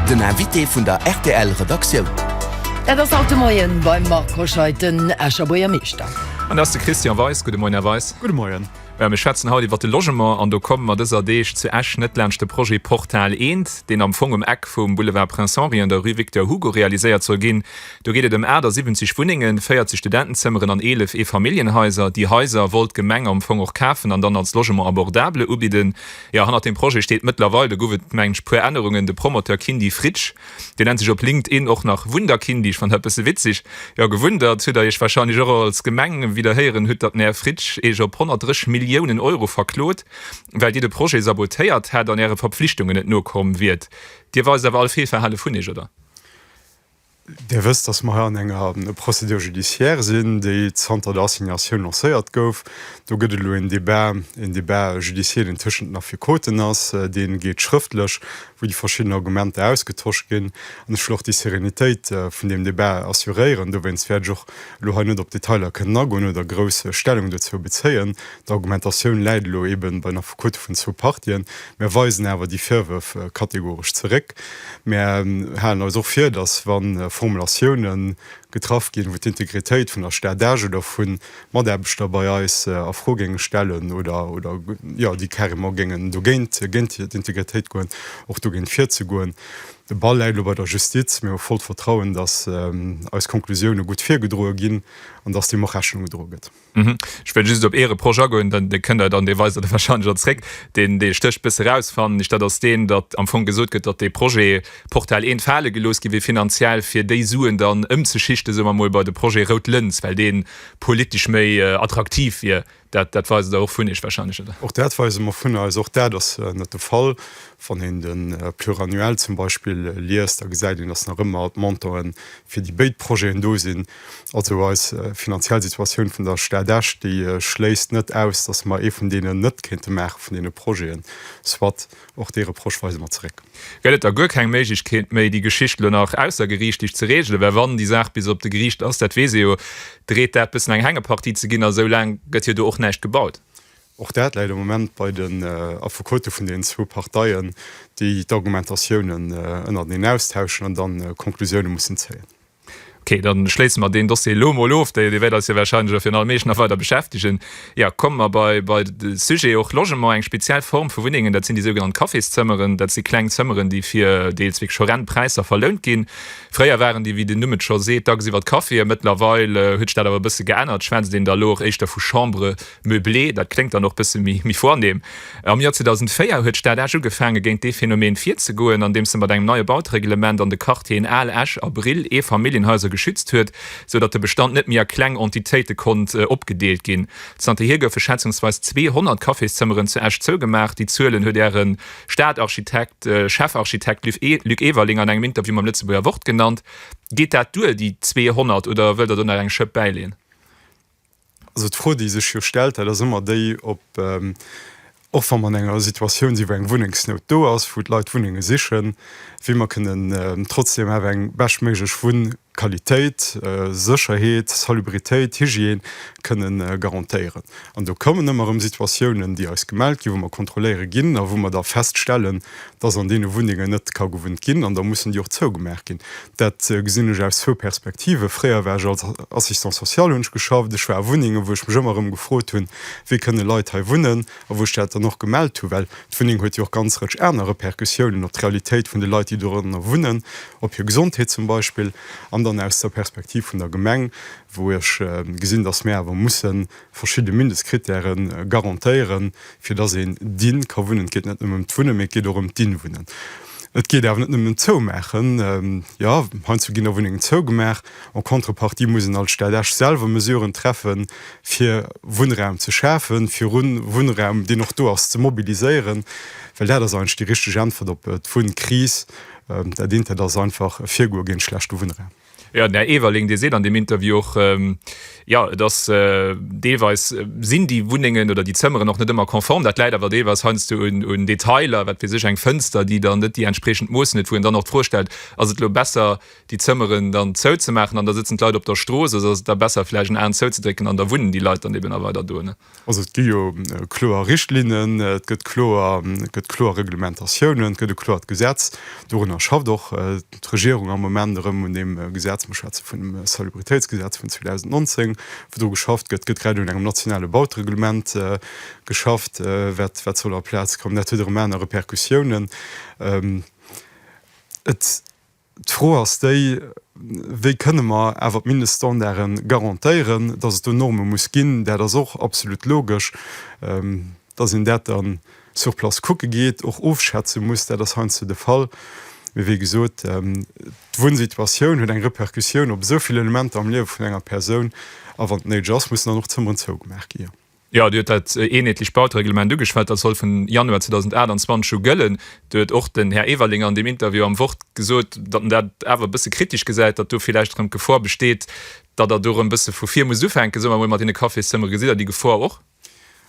Den Invité vun der RTL-Redaktioun. Dat ass haut de Moien beim Marc Hoscheid den Escher Buergermeeschter. An dat ass de Christian Weis. Gudde Moien, Här Weis. Gudde Moien. Mir schwätzen haut iwwert de Logement. An do komme mer dëser Deeg zu Esch net laanscht de Projet Portal Eent, deen am Fong um Eck vum Boulevard Prince Henri an der Rue Victor Hugo realiséiert soll ginn. Do geet et ëm 78 Wunnengen, 40 Studentenzëmmeren an 11 Eefamilljenhaiser. Déi Haiser wollt d'Gemeng am Fong och kafen an dann als Logement abordable ubidden. Jo, hannert deem Projet steet mëttlerweil, do gouf et, mengen ech, e puer Ännerungen, de Promoteur Kindy Fritsch. Deen nennt sech op LinkedIn och nach Wunderkindy. Ech fannen dat e bësse witzeg. Jo, gewundert hutt Der Iech warscheinlech och als Gemeng, wéi Der héieren hutt, datt den Här Fritsch Iech op 130 Milliounen Euro verklot, well Dir de Projet sabotéiert hätt an Äre Verpflichtungen net nokomm wiert. Dir weist awer all Feelverhale vun Iech, oder? Dir wësst, dass mer hei an enger Procédure judiciaire sinn, déi zanter der Assignatioun lancéiert gouf. Do gëtt elo een Débat, een Débat judiciel, deen tëschent den Affekoten ass, dee geet schrëftlech, wou déi verschidden Argumenter ausgetosch ginn. An ech wëll och déi Sérénitéit vun deem Débat assuréieren. Dowéinst wäert ech och elo hei net op Detailer kënnen agoen oder grouss Stellung dozou bezéien. D'Argumentatioun läit elo eben bei nach Quote vun zwou Partien. Mär weisen awer déi Virwërf kategoresch zeréck. Mär halen eis och vir, datt wa Formulatioune getraff ginn, wou d'Integritéit vun der Stad Esch oder vu Mataarbechter bei eis a Fro géinge stellen oder jo, déi carrément géingen dogéint, géint d'Integritéit goen, och dogéint virzegoen. De Ball läit elo bei der Justiz. Mir hu vollt Vertrauen, datt eis Konklusioune gutt virgedroe ginn an datt deem och Rechnung gedroe gëtt. Mhm. Ech wëll just op ee Reproche agoen, dann, dee kënnt Der dann, dee weist Der da warscheinlech och zréck, deen, dee stécht e bësse eraus, fannen ech, dat ass deen, datt am Fong gesot gëtt, datt dee Projet Portal I fale gelooss gi wier finanziell, fir déi Suen dann ëmzeschichten, soe mer mol, bei de Projet Rout Lëns, well dee politesch méi attraktiv wier. Dat, dat weise Der och vun Iech warscheinlech, oder? Och dat weise mer vun eis. Och dat ass net de Fall. Wann een de Pluriannuel zum Beispill liest, da gesäit een, datt nach ëmmer d'Montauen fir déi béid Projeten do sinn, Also eis finanziell Situatioun vun der Stad Esch, déi schléisst net aus, dass mer ee vun deenen net kéinte maachen, vun deene Projeten. Soit, och dee Reproche weise mer zeréck. Gëtt et da guer keng Méiglechkeet méi, déi Geschicht elo nach aussergeriichtlech ze reegelen? Well wann déi Saach bis op de Geriicht ass, dat weess ee jo, dreet dat bëssen eng Hängepartie ze ginn, a sou laang gëtt jo do och näischt gebaut. Och dat läit am Moment bei den Affekote vun deenen zwou Parteien, déi d'Argumentatiounen ënnerteneen austauschen an dann Konklusioune mussen zéien. Ok, dann schléissen mer deen Dossier elo mol of. Dee wäert eis jo wahrscheinlech a virun allem eech nach weider beschäftegen. Ja, kommen mer bei bei de Sujet och Logement, eng speziell Form vu Wunnengen. Dat sinn déi sougenannt Cafészëmmeren. Dat si kleng Zëmmeren, déi fir deels wierklech horrend Präisser verlount ginn. Fréier waren déi, wéi den Numm et scho seet, dacks iwwert Caféen. Mëttlerweil huet sech dat awer e bësse geännert. Schwätzt een da elo och éischter vu Chambres Meublé, dat kléngt dann och bësse méi vornehm. Am Joer 2004 huet d'Stad Esch ugefaange géint dee Phänomen virzegoen, andeems se mat engem neie Bautereglement an de Quartieren Al Esch a Brill Eefamilljenhaiser geschützt huet, sou datt de Bestand net méi a kleng Entitéite konnt opgedeelt ginn. Zanterhier goufe schätzungsweis 200 Cafészëmmeren zu Esch zougemaach. Déi Zuelen huet Äre Stadarchitekt, Chefarchitekt, Luc Everling an engem Interview mam Lëtzebuerger Wort genannt. Geet dat duer, déi 200, oder wëllt Der do nach eng Schëpp bäileeën? Also d'Fro, déi sech jo stellt, dat ass ëmmer déi, ob, och wa mer an enger Situatioun sinn, wou eng Wunnengsnout do ass, wou d'Leit Wunnenge sichen, wéi mer kënnen trotzdeem awer eng beschtméiglech Wunnqualitéit, Sécherheet, Salubritéit, Hygiène kënne garantéieren. An do kommen ëmmer erëm Situatiounen, déi eis gemellt ginn, wou mer kontrolléiere ginn a wou mer da feststellen, dass an deene Wunnengen net ka gewunnt ginn, an da mussen déi och zougemaach ginn. Dat gesinn ech aus zwou Perspektiven. Fréier war ech als Assistant social, hunn ech geschafft, ech war a Wunnengen, wou ech mech ëmmer erëm gefrot hunn, wéi kënne Leit hei wunnen a wou ech dat dann och gemellt hunn, well d'Wunneng huet jo och ganz Rëtsch aner Repercussiounen op d'Realitéit vun de Leit, déi dorënner wunnen, op hir Gesondheet zum Beispill. An dann aus der Perspektiv vun der Gemeng, wou ech gesinn, dass mir awer mussen verschidde Mindestkritäre garantéieren, fir datt een diene ka wunnen. Et geet net nëmme ëm d'Wunnen, mee et geet och ëm d'diene Wunnen. Et geet awer net nëmmen ëm d'Zoumaachen. Jo, heiansdo ginn der Wunnengen zougemaach. En contrepartie muss een als Stad Esch selwer Mesuren treffen, fir Wunnraum ze schafen, fir Wunnraum, deen och do ass, ze mobiliséieren, well dat ass eigentlech déi richteg Äntwert op d'Wunnkris. Dat eent, dat ass einfach e Virgoe géint schlechte Wunnraum. Jo, den Här Everling, dee seet an deem Interview och, jo, et ass deelweis, sinn déi Wunnengen oder déi Zëmmeren och net ëmmer konform. Dat läit awer deelweis heiansdo un Detailer, wat weess ech, eng Fënster, déi dann net déi entspriechend Moossen huet, wou een dann och d'Fro stellt, Ass et elo besser, déi Zëmmeren dann zouzemaachen an da sëtzen d'Leit op der Strooss, oder ass et da besser, vläicht en Aen zouzedrécken an da wunnen déi Leit dann eben a weider do? Also et gi jo kloer Richtlinnen, et gëtt kloer, et gëtt kloer Reglementatiounen, et gëtt e kloert Gesetz. Dorunner schafft och d'Regierung am Moment erëm, un deem Gesetz. Mir schwätze vun dem Salubritéitsgesetz vun 2019, wou dru geschafft gëtt. Et gëtt grad un engem nationale Bautereglement geschafft, wat, wat soll a Plaz kommen. Dat huet erëm aner Repercussiounen. Et. D'Fro ass déi, Wéi kënne mer awer d'Mindeststandarde garantéieren? Datt et do Norme muss ginn, dat ass och absolut logesch. Datt een dat da sur place kucke geet, och ofschätze muss, dat ass heiansdo de Fall. Mee wéi gesot, d'Wunnsituatioun huet eng Repercussioun op esou vill Elementer am Liewe vun enger Persoun. A wann et néideg ass, mussen dann och d'Zëmmeren zougemaach gi. Jo, Dir hutt dat eenheetlecht Bautereglement ugeschwat. Dat soll vun Januar 2028 u gëllen. Do huet och den Här Everling an deem Interview am Wort gesot, datt en dat awer e bësse kritesch gesäit, datt do villäicht erëm d'Gefor besteet, datt Der do erëm e bësse vu vir musst ufänken, soe mer emol, mat deene Cafészëmmere. Gesitt Der déi Gefor och?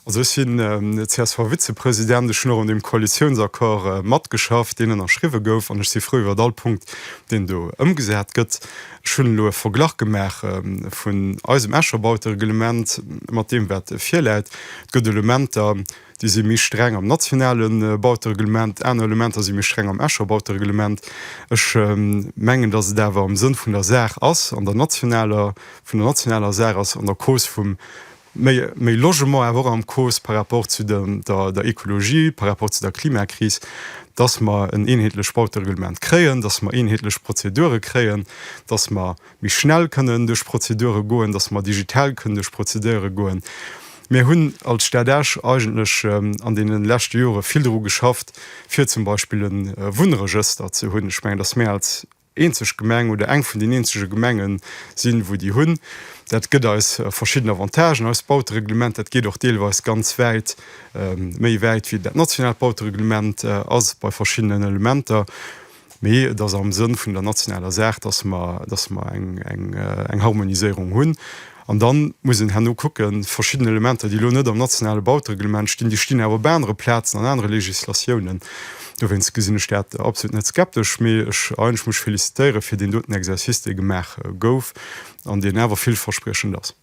Also ech sinn CSV-Vizepresident. Ech hunn och un deem Koalitiounsaccord matgeschafft, deen ënnerschriwwe gouf, an ech si frou iwwer all Punkt, deen do ëmgesat gëtt. Ech hunn elo e Verglach gemaach vun eisem Escher Bautereglement mat deem, wat virläit. Et gëtt Elementer, déi si méi streng am nationale Bautereglement, aner Elementer si méi streng am Escher Bautereglement. Ech mengen, datt et awer am Sënn vun der Saach ass, an der nationaler, vun der nationaler Saach ass, an der Cause vum, Méi Logement awer och am Cause par rapport zu der Ekologie, par rapport zu der Klimakris, dass mer en eenheetlecht Bautereglement kréien, dass mer eenheetlech Prozedure kréien, dass mer méi schnell kënnen duerch Prozedure goen, dass mer digital kënnen duerch Prozedure goen. Mir hunn als Stad Esch eigentlech an deene leschte Jore vill dru geschafft, fir zum Beispill e Wunnregëster ze hunn. Ech mengen, dass mir als eenzeg Gemeng oder eng vun den eenzege Gemenge sinn, wou déi hunn. Dat gëtt eis verschidden Avantagen. Eist Bautereglement, dat geet och deelweis ganz wäit, méi wäit wéi dat nationaalt Bautereglement ass bei verschiddenen Elementer. Mee et ass am Sënn vun der nationaler Saach, dass mer eng Harmoniséierung hunn. An dann muss een herno kucken, verschidden Elementer, déi elo net am nationale Bautereglement stinn, déi stinn awer op anere Plazen an anere Législatiounen. Dowéinst gesinn ech dat absolut net skeptesch, mee ech eigentlech mech félicitéieren fir deen doten Exercice, dee gemaach gouf an deen awer villverspriechend ass.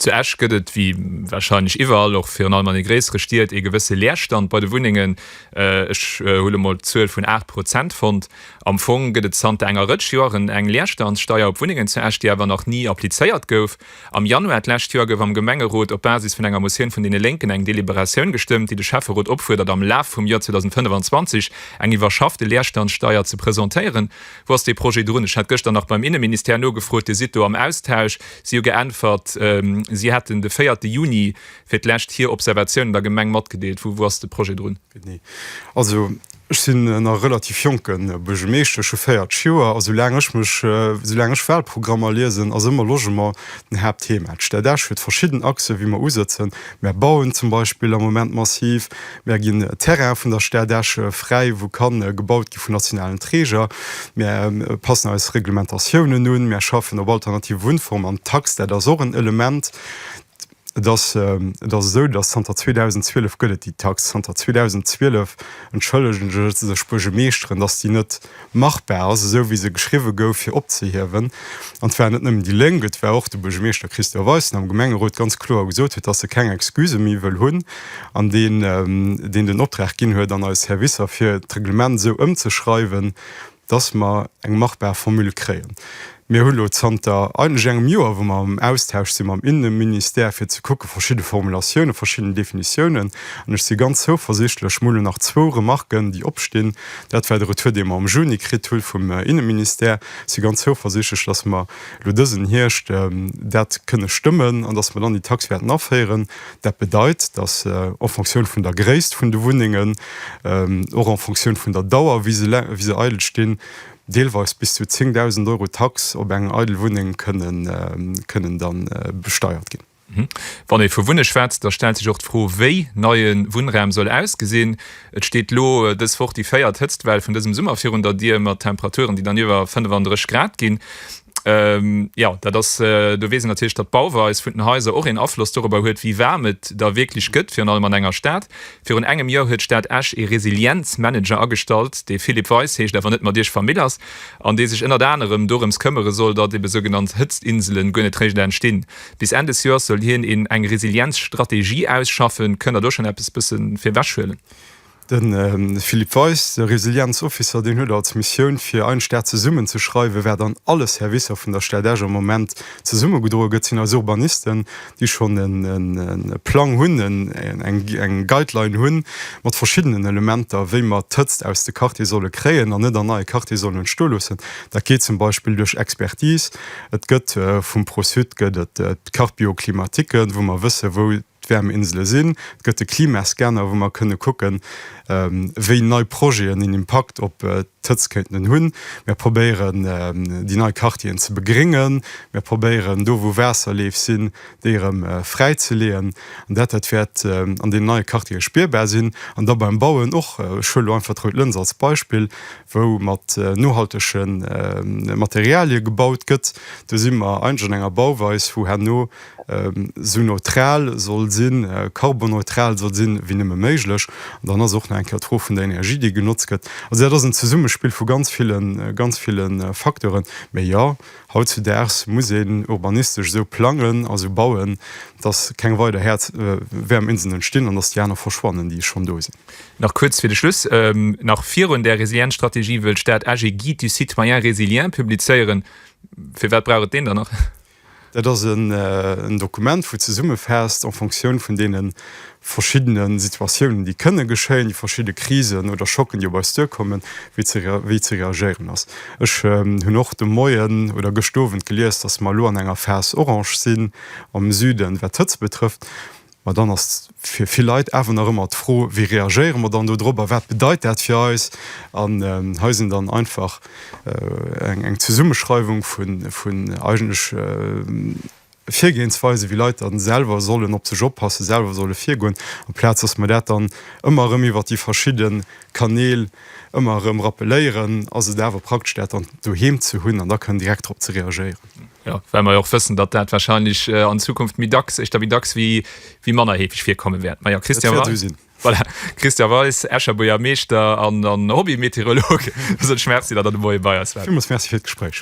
Zu Esch gëtt et, wéi warscheinlech iwwerall, och virun allem an de gréissere Stied, ee gewësse Leerstand bei de Wunnengen. Ech hu lo mol d'Zuel vun 8 Prozent fonnt. Am Fong gëtt et zanter enger Rëtsch Joeren eng Leerstandssteier op Wunnengen zu Esch, déi awer nach ni applizéiert gouf. Am Januar d'lescht Joer gouf am Gemengerot op Basis vun enger Motioun vun deene Lénken eng Deliberatioun gestëmmt, déi de Schäfferot opfuerdert, am Laf vum Joer 2025 eng iwwerschaffte Leerstandssteier ze presentéieren. Wou ass dee Projet drun? Ech hat gëschter nach beim Inneministère nogefrot, Dir sidd do am Austausch. Si hu geäntwert, si hätten de véierte Juni fir d'lescht hir Observatiounen der Gemeng matgedeelt. Wou wou ass de Projet drun? Genee. Also ech sinn en nach relativ jonke Buergemeeschter, ech hu 40 Joer a soulaang ech mech, soulaang ech Wahlprogrammer liesen, ass ëmmer Logement den Haaptthema. D'Stadach huet verschidden Achsen, wéi mer usëtzen. Mär bauen zum Beispill am Moment massiv, mär ginn Terraine vun der Stadach fräi, wou ka gebaut gi vun nationalen Träger, mär passen eis Reglementatiounen un, mär schaffen op alternative Wunnformen an d'Tax, dat ass och en Element. Et ass esou, dass zanter 2012 gëtt et déi Tax. Zanter 2012 entschëllegen sech d'Buergermeeschteren, dass déi net machbar ass, esou wéi se geschriwwe gouf, fir opzehiewen. An et waren net nëmmen déi Lénk, et war och de Buergermeeschter Christian Weis, deen am Gemengerot ganz kloer gesot huet, dass e keng Excusë méi wëll hunn an deen den Optrag ginn huet an eis Servicer, fir d'Reglement esou ëmzeschreiwen, dass mer eng machbar Formule kréien. Mir hu lo zanter eigentlech engem Joer, wou mer am Austausch si mam Inneministère, fir ze kucke verschidde Formulatiounen, verschidden Definitiounen. An ech si ganz zouversiichtlech. Mer hu lo nach zwou Remarken, déi opstinn. Dat war de Retour, dee mer am Juni kritt hu vum Inneministère. Ech si ganz zouversiichtlech, dass mer lo dësen Hierscht dat kënne stëmmen an dass mer dann déi Taxe wäerten aféieren. Dat bedeit, datt en Fonctioun vun der Gréisst vun de Wunnengen, och en Fonctioun vun der Dauer, wéi se eidel stinn, deelweis bis zu 10.000 Euro Tax op eng eidel Wunneng kënnen da besteiert ginn. Wann ee vu Wunne schwätzt, da stellt sech och d'Fro, wéi neie Wunnraum soll ausgesinn. Et steet elo dës Woch déi véiert Hëtztwell vun dësem Summer virun der Dier, mat Temperaturen, déi dann iwwer 35 Grad ginn. Jo, dat ass, do weess een natierlech, datt d'Bauweis vun den Haiser och een Afloss dorobber huet, wéi waarm et da wierklech gëtt, virun allem an enger Stad. Virun engem Joer huet d'Stad Esch ee Resilienz-Manager agestallt, dee Philippe Weis heescht, awer net mat Iech vermill ass, an dee sech ënnert anerem dorëms këmmere soll, datt ebe sougenannt Hëtztinselen guer net réischt entstinn. Bis Enn des Joers soll hien een eng Resilienzstrategie ausschaffen. Kënnt der do schonn eppes bësse virwech huelen? De Philippe Weis, de Resilienz-Officer, deen huet als Missioun, fir eing Stad zesummen ze schreiwen. Wat an alle Servicer vun der Stad Esch am Moment zesummegedroe gëtt, sinn eis Urbanisten, déi schonn e Plang hunn, eng Guideline hunn, mat verschiddenen Elementer, wéi mer d'Hëtzt aus de Quartiere solle kréien an net an neie Quartiere sollen entstoe loossen. Dat geet zum Beispill duerch Expertise, Et gëtt vum Pro-Sud gëtt et d'Carpioclimatiken, wou mer wësse wou d'Wäerminsele sinn. Et gëtt de Klimascanner, wou mer kënne kucken, wéi nei Projeten en Impakt op d'Hëtzt kéinten hunn. Mir probéieren déi nei Quartieren ze begréngen. Mir probéieren do wou Waasserleef sinn, déi erëm fräizeleeën. An dat dat wäert an deenen neie Quartiere spierbar sinn. An da beim Bauen och, ech huelen elo einfach d'Rout Lëns als Beispill, wou mat nohaltege Materialie gebaut gëtt, do si mer eigentlech an enger Bauweis, wou herno esou neutral soll sinn, karbonneutral soll sinn, wéi nëmme méiglech. An dann ass och nach eng Kéier d'Fro vun der Energie, déi genotzt gëtt. Also dat ass en Zesummespill vu ganz ville, ganz ville Facteuren. Mee jo, hautzudaags muss een urbanistesch esou plangen a esou bauen, dass keng weider Häerz-Wäerm-Inseln entstinn an dass déi aner verschwannen, déi schonn do sinn. Nach kuerz fir de Schluss, nach virun där Resilienzstrategie wëll d'Stad Esch ee Guide du citoyen résilient publizéieren. Firwat brauch et deen dann nach? Dat ass en Dokument, wou zesummefaasst, en Fonctioun vun deene verschiddene Situatiounen, déi kënne geschéien, déi verschidde Krisen oder Schocken, déi op eis duerkommen, wéi ze reagéieren ass. Ech hunn och de Moien oder gëscht Owend gelies, dass mer elo an enger Phase orange sinn am Süden, wat d'Hëtzt betrëfft. Mä dann ass fir vill Leit awer nach ëmmer d'Fro, Wéi reagéiere mer dann do drop a wat bedeit dat fir eis? An hei sinn dann einfach eng Zesummeschreiwung vun eigentlech Virgehensweisen, wéi Leit dann selwer sollen op sech oppassen, selwer solle virgoen, amplaz dass mer dat dann ëmmer erëm iwwert déi verschidde Kanäl ëmmer erëm rappeléieren, ass et awer praktesch dat dann doheem ze hunn an da kënnen direkt drop ze reagéieren. Ja, well mer jo och wëssen, datt dat wahrscheinlech an Zukunft méi dacks, éischter méi dacks wéi, wéi manner heefeg virkomme wäert. Mä jo, Christian Weis. Dat wäert esou sinn. Voilà, Christian Weis, Escher Buergermeeschter an, an Hobby-Meteorolog, soen ech Merci, datt Der de Moie bei eis waart. Villmools Merci fir d'Gespréich.